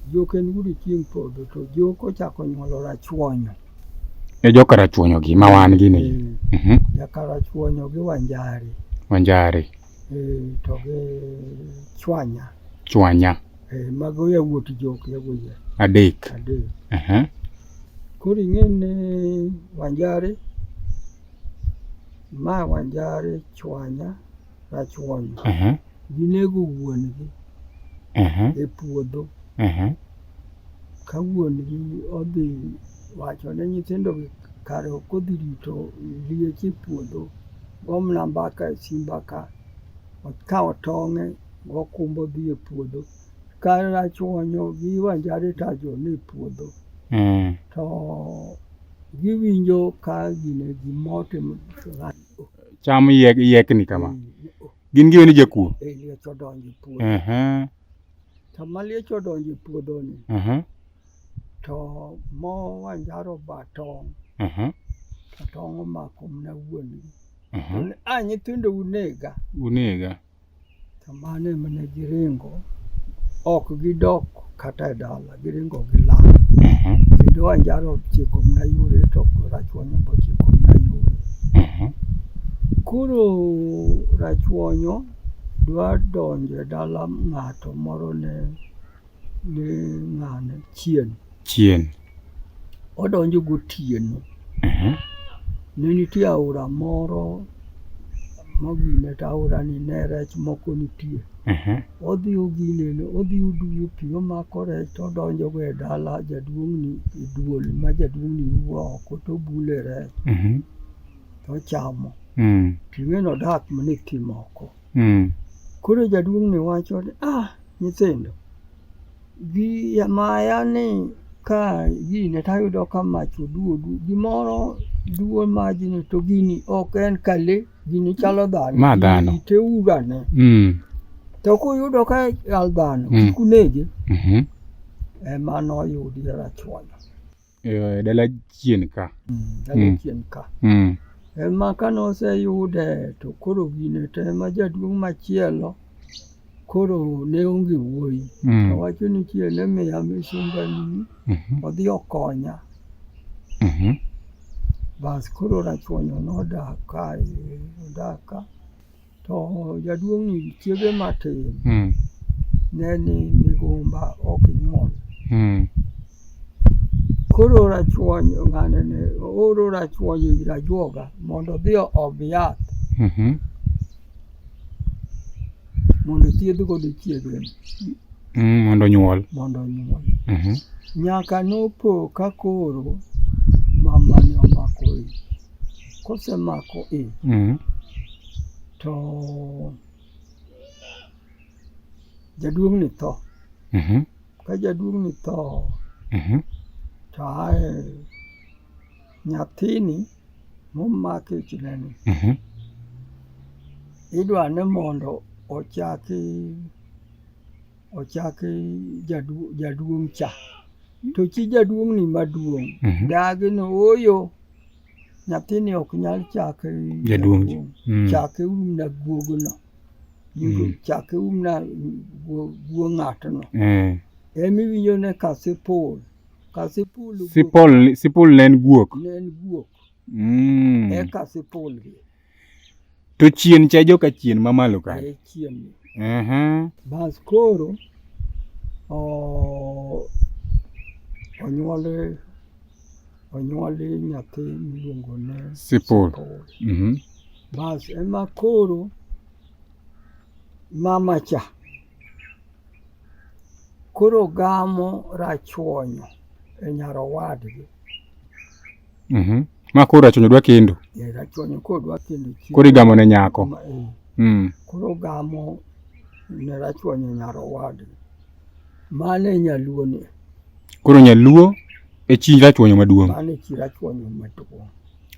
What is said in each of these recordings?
Jok en wudo chieng' podho to jok ochako nyuolo rachuonyo. E joka rachuonyo gi ma wan gi ni. Eh, mhm. Joka rachuonyo gi wanjari. Wanjari. Eh, to gi chwanya. Chwanya. Eh, mago ya wuot jok ya wuye. Adek. Adek. Mhm. Kuri ngene wanjari. Ma wanjari chwanya. rachuon ginego wuon-gi e puodho ka wuon-gi odhi wacho ne nyithindogi kare ok odhi rito liech e puodho gomna mbaka e simba ka okawo tong'e gokumbo dhi e puodho ka rachuonyo gi wanjare tajo ni e puodho mm. to giwinjo ka gine gimote cham yek, yekni kama gin giwe ni jakuo Eh, liech odonjo e puodho Ehe, sama liech odonjo e puodhoni ehe, to mo wanjaro ba tong' ehe, to tong' omako mna wuon-gi ehe. To ni, a nyithindo unega unega To mano ema ne giringo, ok gidok kata e dala, giringo gilal. Kendo Wanjaro ochiko mana yore to Rachuonyo be ochiko mana yore. Koro Rachuonyo dwa donjo e dala ng'ato moro ne ni ng'ane chien chien odonjo gotieno Ehe. ne nitie aora moro mogine to aorani ne rech moko nitie Ehe. odhi oginene odhi oduwo pi omako rech to odonjogo e dala jaduong'ni e duol ma jaduong'ni wuo oko to obule rech Mhm. to ochamo Mm. tiweno dak mana e thim oko Mm. Koro jaduong' ni wacho ni ah, nyithindo gi yamaya ni ka gine to ayudo ka mach oduodu gimoro duo majni to gini ok en ka le gini chalo dhano ma dhano te ugane mm. to kuyudo ka al dhano mm. kunege mm -hmm. ema noyudi rachuonyo e dala chien ka. Mm, dala mm. chien ka. Mm. Ema ka noseyude to koro gine to ema jaduong' machielo koro ne onge wuoyi. Mm. Owacho ni chieng' ne miya misumbani mm -hmm. odhi okonya. Mm -hmm. Bas koro rachuonyo nodak kae, odak ka. To jaduong' ni chiege matin mm. ne ni migumba ok nyuol. Mm. Koro rachuony ng'ane ne oro rachuony ir ajuoga mondo odhi oom yath. Mm -hmm. Mondo thiedh godo chiege. Mm, mondo nyuol. Mondo nyuol. Mm -hmm. Nyaka nopo ka koro mama ne omako ich. kosemako i mm. to jaduong' ni tho mm -hmm. ka jaduong' ni tho mm -hmm. to ae nyathini momaki chineni mm -hmm. idwa ni mondo ochaki ochaki jadu, jaduong' cha to chi jaduong' ni maduong' mm -hmm. dagi ni oyo Nyathini ok nyal chake jaduong' mm. chake um na guogono mm. chake um na guo ng'atno eh. emi winjo ne ka sipul ka sipul sipul sipul ne en guok ne en guok mm. eka sipul gi To chien cha joka chien mamalo ka. Eh, chien. Aha. Bas koro o onyuole onyuole nyathi miluongo ni Sipol. Mhm. Bas ema koro mama cha Koro gamo rachuonyo e nyar owadgi. Mhm. Ma koro rachuonyo dwa kendo. E rachuonyo koro dwa kendo. Koro igamo ne nyako. Eh. Mm. Koro gamo ne rachuonyo e nyar owadgi. Mano e nyaluo ni. Koro nyaluo e chi rachuonyo maduong'. Mano e chi rachuonyo maduong'.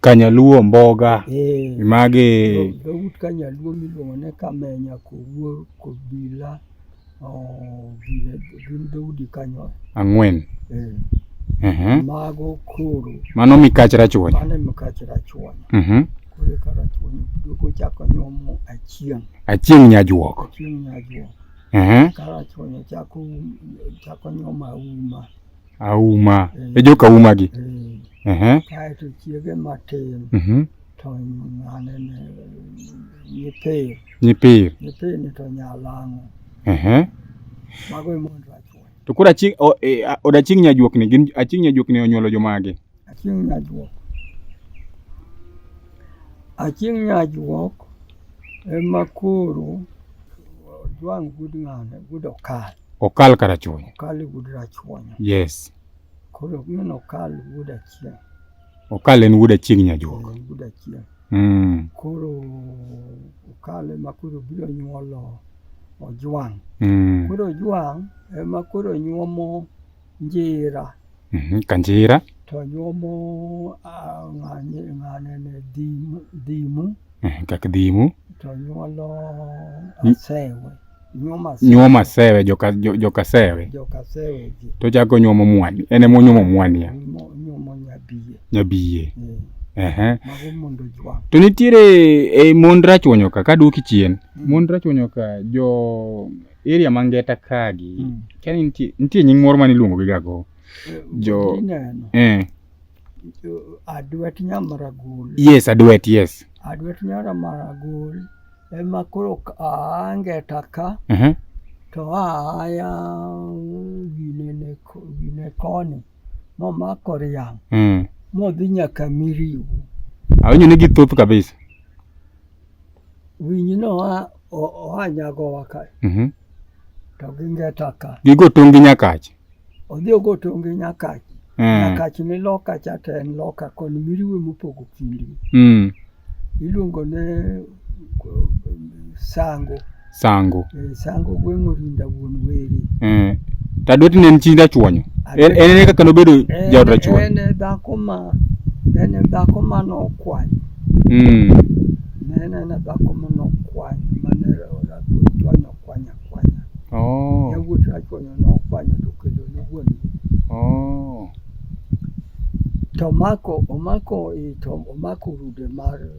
Kanyaluo Mboga eh, magi dhout Kanyaluo miluongo ni Kamenya, Kowuor, Kobila oh, gin dhoudi kanyo ang'wen. Eh. Uh-huh. Mago koro mano mikach rachuony, mano mikach rachuony. Uh-huh. Koro ka rachuony duogo chako nyomo achieng', achieng' nyajuok, achieng' nyajuok. Uh-huh. Ka rachuony chako chako nyoma uma auma e eh. joka uma gi eh. eh. kaeto chiege matin mhm. to anene nyipir nyipir nyipir ni to nyalang'o mago emondo achuoyo to koro aching od aching nyajuokni gin aching nyajuokni onyuolo jomage aching nyajuok aching nyajuok ema koro ojwang' wuod ng'ane wuod okal Okal kar achuonyo. Okal e wuod Rachuonyo. Yes. Koro min Okal wuod Achieng'. Okal en wuod Achieng' Nyajuok. En wuod Achieng'. Mm. Koro Okal ema koro biro nyuolo Ojwang'. Mm. Koro Ojwang' ema koro nyuomo njira mm -hmm. ka njira to nyuomo ng'ane ng'ane ne dhimu dhimu mhm, kak dhimu to nyuolo asewe nyuomo asewe joka joka sewe joka sewe ji to chako nyuomo mwani en emo nyuomo mwani ya nyuomo nyabiye nyabiye mm. ehe mago mondo jwa to nitiere e mond rachwonyoka ka duoki chien mm. mond rachwonyoka jo area ma ngeta kagi mm. kani nitie nitie nying moro mane iluongo gi gago eh, jo eh adwet nyamaragul yes adwet yes adwet nyamaragul ema koro angeta ka uh -huh. to aya ginene gine koni momako riang mm. modhi nyaka miriu awinjo ni githoth kabisa Winy no oa nyagowa ka. Mhm. To gi ngeta ka. Gigo tong' gi nyakach. Odhi ogo tong' gi nyakach. Mm. Nyakach ni loka cha to en loka koni miriwe mopogo kindi. Mm. Iluongo ne sango. Sango. Eh, sango gweng' orinda wuon weri. Eh. Tadwet ne en chi Rachuonyo. En en e kaka nobedo Eh, jaod Rachuonyo. En e dhako ma en e dhako ma nokwanyo. Mm. Ne en en e dhako ma nokwanyo ma ne Rachuonyo okwanyo akwanya. Oh. Yawuot Rachuonyo nokwanyo to kendo ne wuon Oh. to omako omako i to omako rude mar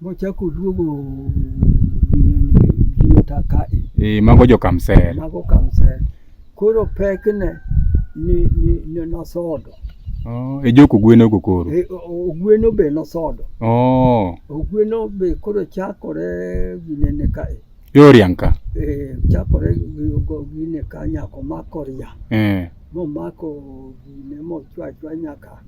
Mochako duogo giota kae. Eh, mago jo Kamsel. Mago Kamsel. Koro pek ne ni ni ne nosodo. Oh, e joko gweno go koro. E, ogweno be nosodo. Oh. Ogweno be koro chakore ginene kae. Yorianka. Eh, chakore gine ka nyako mako ria. Eh. Momako gine mochwa chwa nyaka.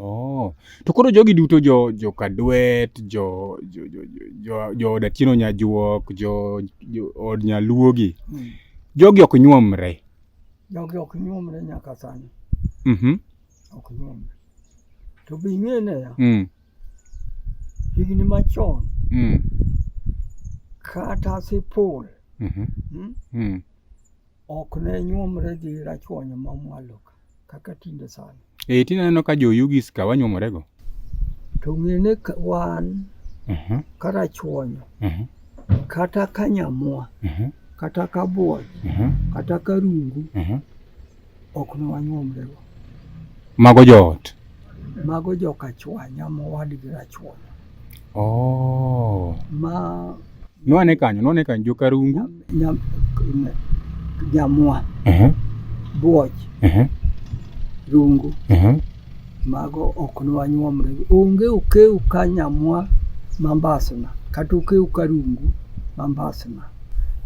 Oh. To koro jogi duto jo jo Kadwet, jo jo jo jo jo od Atieno Nyajuok, jo jo od Nyaluogi. Mm. Jogi ok nyuomre. Jogi ok nyuomre nyaka sani. Mhm. Mm ok nyuomre. To be ing'e ne ya. Mm. Higni machon. Mm. Kata sipul. Mhm. Mm mm. mm. Ok ne nyuomre gi rachuonyo ma mwalo. kaka tinde sani. Eh, tinde aneno ka joyugi ska wanyuomorego. To ng'ene wan uh mhm. -huh. kata chuonyo uh mhm. -huh. kata ka nyamua uh mhm. -huh. kata ka buoch uh -huh. kata ka rungu uh -huh. ok ne wanyuomrego. Mago joot. Mago joka chwanya mowadgi rachuonyo. Oh. Ma nwane kanyo nwane kanyo joka rungu nyam, nyamwa uh -huh. buoch uh -huh. rungu uh -huh. mago ok nwanyuomre onge okeu ka nyamwa mambasna kata okeu ka rungu mambasna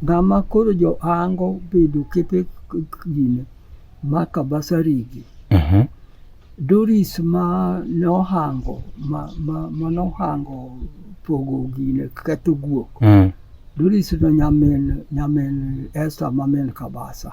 ng'ama koro johango bedo kepe gine ma Kabasarigi. Mhm. Doris ma nohango ma, ma, ma nohango pogo gine ketho guok. Mm. Doris no nyamin nyamin Esther ma min Kabasa.